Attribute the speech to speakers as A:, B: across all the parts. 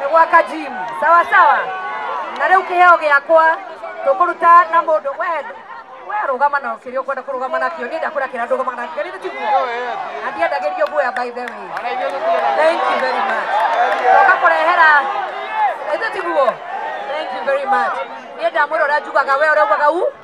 A: nĩ gwaka gym sawa sawa na rĩu kĩheo gĩakwa tũkũruta na mũndũ we we rũgama na kĩrĩa ũkwenda kũrũgama nakĩo niĩ ndakwĩra kĩrĩa ndũgama nakĩo rĩu tiguo na ndiendagĩrio guoya by the way thank you very much toka kũrehera rĩu tiguo thank you very much niĩ ndamwĩra ũrĩa njugaga we ũrĩa ugaga u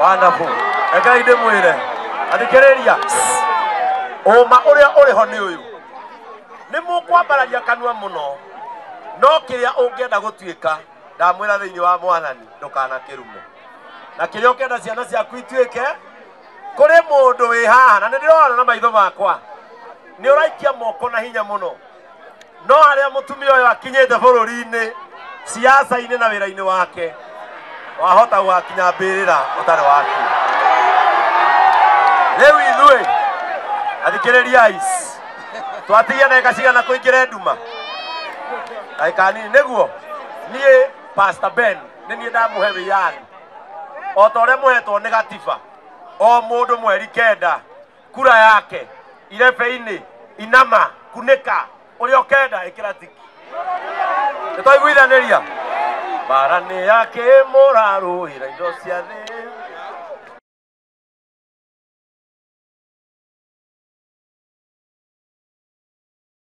A: wonderful rekei ndĩmwĩre athikĩrĩria ũma ũrĩa ũrĩ ho nĩ ũyũ nĩ mũkwambararia kanua mũno no kĩrĩa ũngĩenda gũtuĩka ndamwĩra thĩinĩ wa mwathani ndũkanakĩrume na kĩrĩa ũkĩenda ciana ciaku ituĩke kũrĩ mũndũ wĩ haha na nĩ ndĩrona na maitho makwa nĩ ũraikia moko na hinya mũno no harĩa mũtumia ũyũ akinyĩte bũrũri-inĩ ciaca-inĩ na wĩra-inĩ wake wahota gũgakinya mbĩrĩra ũtarĩ waki rĩu ithuĩ athikĩrĩriai twatigia ndagĩka cigana kũingĩre nduma ndagĩka nini nĩguo niĩ pastor ben nĩ niĩ ndamũhe wĩyathi o ta ũrĩa mũhetwo nĩ gatiba o mũndũ mweri kenda kura yake irebe-inĩ inama kunĩka ũrĩa ũkenda ĩkĩra tiki nĩ twaiguithanĩria bara nĩ yake mũrarũĩra indo cia thĩ